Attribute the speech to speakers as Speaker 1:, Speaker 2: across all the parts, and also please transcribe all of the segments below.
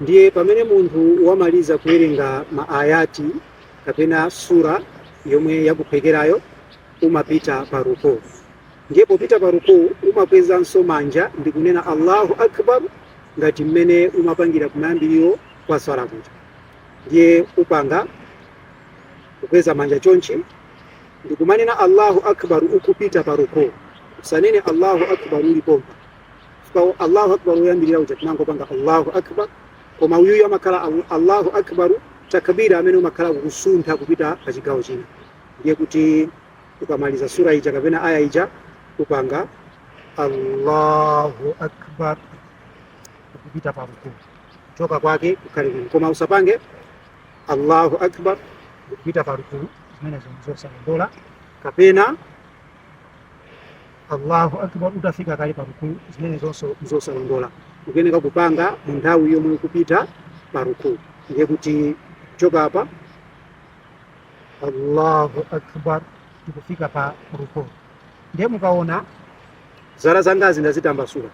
Speaker 1: Ndiye pamene munthu wamaliza kuwerenga ma ayat kapena surah yomwe yakuphwekerayo, umapita pa ruku. Ndiye popita pa ruku umakwezanso manja ndi kunena Allahu akbar ngati mmene umapangira kumayambiriro kwa swala kuja. Ndiye upanga kukweza manja chonchi ndikumanena Allahu akbar ukupita pa ruku. Usanene Allahu akbar uli pompa. Chifukwa Allahu akbar woyambirira uja tinangopanga Allahu akbar, koma uyuyu amakhala al- Allahu akbaru takbira amene umakhala kusuntha kupita pa chigawo china. Ndiye kuti ukamaliza sura ija kapena aya ija upanga Allahu akbar kupita pa ruku kuchoka kwake kukhale kwina, koma usapange Allahu akbar kupita pa ruku, zimenezo ndi zosalondola kapena allahu akbar utafika kale pa rukuu zimenezonso nzosalondola ukuyeneka kupanga mu nthawi yomwe ukupita pa rukuu ndiye kuti kuchoka apa allahu akbar tikufika pa rukuu ndiye mukaona zala zangazi ndazitambasula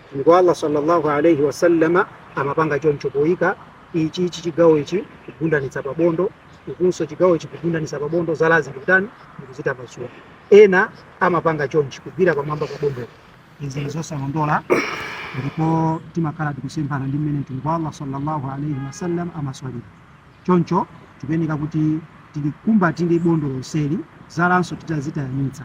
Speaker 1: mtumiki wa allah sallallahu alaihi wasallama amapanga choncho poyika ichi ichi chigawo ichi kugundanitsa pa bondo ukunso chigawo ichi kugundanitsa pa bondo zalazi ndikutani ndikuzitambasula ena amapanga chonchi kugwira pamwamba pa bondo izi ndizosalondola ndipo timakhala tikusemphana ndi mmene mtumiki wa allah sallallahu alaihi wasallam amaswalira choncho tikuyeneka kuti tilikumbatire bondo lonseli zalanso titazitayanitsa